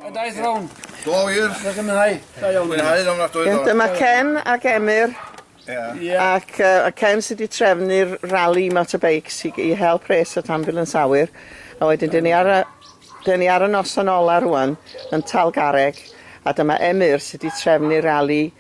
A daeth rown. Do wir. Dwi'n mwynhau. Da iawn. Mwynhau yn ofnadwy. Iawn, dyma Ken ac Emyr. Ie. Ac uh, Ken sydd wedi trefnu'r rally motorbikes i, i help res at ambulance awyr. A wedyn, dyn ni ar y, dyn ni ar y noson ola rwan yn Talgareg. A dyma Emyr sydd wedi trefnu'r rally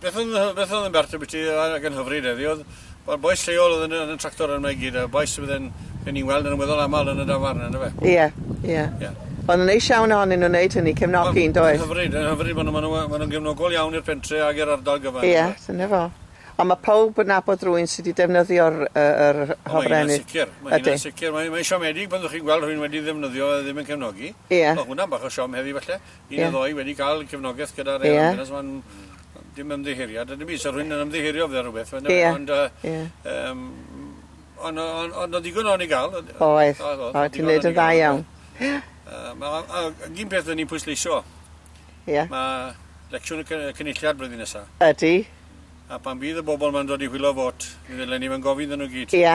Beth oedd yn beth oedd yn bert ambiti ac yn hyfryd heddi oedd wel bois lleol oedd yn yn y tractor yma i gyd a bois sydd yn yn ni'n weld yn weddol aml yn y dafarn yndyfe? Ie ie. Ie. Wel yn neis iawn ohonyn nhw wneud hynny cefnogi yn does? Yn hyfryd yn hyfryd ma' nhw ma' nhw yy ma' nhw'n gefnogol iawn i'r pentre ag i'r ardal gyfan. Ie dyna fo. Ond ma' powb yn nabod rywun sy' 'di defnyddio'r yy yr yy hofrennydd. O mae hynna'n sicir mae hynna'n sicir mae mae'n siomedig pan ddwch chi'n gweld rhywun wedi ddefnyddio fe ddim yn cefnogi. Ie. Ma' hwnna'n bach o siom heddi falle. Ie. Un neu ddou wedi ca'l cefnogeth gyda rei... Ie. ...ambulance ma'n dim ymddiheuriad yndyw 'i? 'Sa rhywun yn ymddiheuro am fel rwbeth on'd yw e? Ie. Ond yy... Ie. ...yym on' o- on' ond o'dd digon o ni ga'l o'dd... Oedd. Oedd oedd. Oedd ti'n neud yn dda iawn. Ie. Yy ma' o- a- ag un peth o'n i'n pwysleisio... Ie. ...ma' lecsiwn y cy- y cynulliad blwyddyn nesa. Ydi. A pan fydd y bobol ma'n dod i hwylo vot mi ddyle ni fyn gofyn 'ddyn nw gyd. Ia.